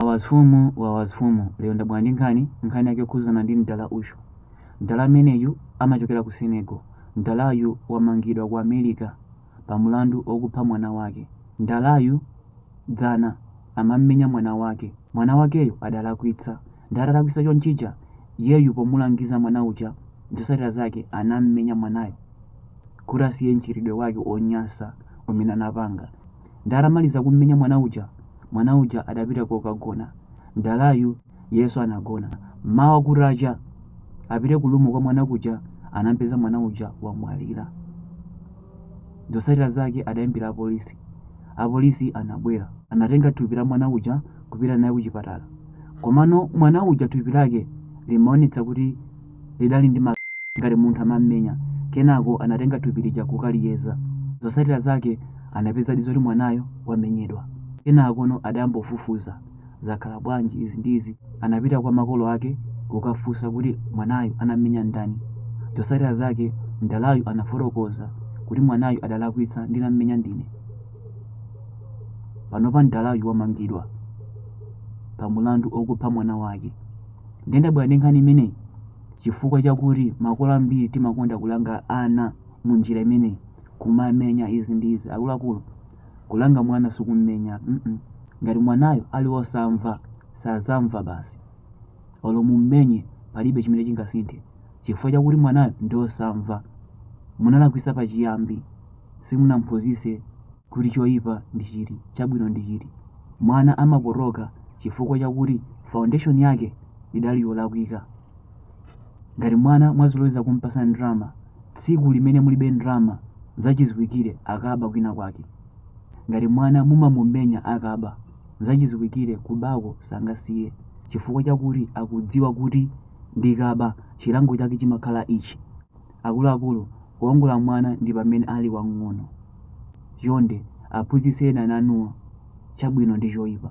Wawa mfumu wawa mfumu lero ndabwera ndi nkhani nkhani yake yokhuzana ndi mdala uyu mdala ameneyu amachokera ku Senegal mdalayu wamangidwa ku America pa mlandu okupha mwana wake mdalayu dzana amammenya mwana wake mwana wakeyo adalakwitsa nde atalakwitsa chonchija iyeyu pomulangiza mwana uja zotsatira zake anammenya mwanayo kuti asiye mchitidwe wake onyasa umene anapanga Nde atamaliza kummenya mwana uja, mwana uja adapita kokagona. Mdalayu iyenso anagona. Mmawa kutacha, apite ku room kwa mwana kuja anampeza mwana uja wamwalira. Zotsatira zake adayimbira apolisi. Apolisi anabwera. Anatenga thupi la mwana uja kupita naye kuchipatala. Komano mwana uja thupi lake limaonetsa kuti lidali ndi ngati munthu amammenya. Kenako anatenga thupi lija kukaliyeza. Zotsatira zake anapezadi zoti mwanayo wamenyedwa. Kenakono adayamba kufufuza. Zakhala bwanji izi ndi izi? Anapita kwa makolo ake kukafunsa kuti mwanayu anammenya ndani. Zotsatira zake mdalayu anafotokoza kuti mwanayu adalakwitsa ndinammenya ndine. Panopa mdalayu wamangidwa pa mulandu okupha mwana wake. Ndiye ndabwera ndi nkhani imeneyi chifukwa chakuti makolo ambiri timakonda kulanga ana mu njira imeneyi kumamenya izi ndi izi akuluakulu kulanga mwana sikummenya mm -mm. ngati mwanayo ali wosamva sazamva basi olo mummenye palibe chimene chingasinthe chifukwa chakuti mwanayo ndi wosamva munalakwisa pachiyambi simunamphunzise kuti choipa ndi chiti, chabwino ndi chiti. Mwana amapotoka chifukwa chakuti foundation yake idali yolakwika. Ngati mwana mwazoloweza kumpasa ndrama, tsiku limene mulibe ndrama, nzachiziwikire akaba kwina kwake. Ngati mwana mumamumenya akaba, nzachiziwikire kubako sangasiye chifukwa chakuti akudziwa kuti ndikaba chilango chake chimakhala ichi. Akuluakulu, kuongola mwana ndi pamene ali wamng'ono. Chonde aphunzitseni ana anuwa chabwino ndi choipa.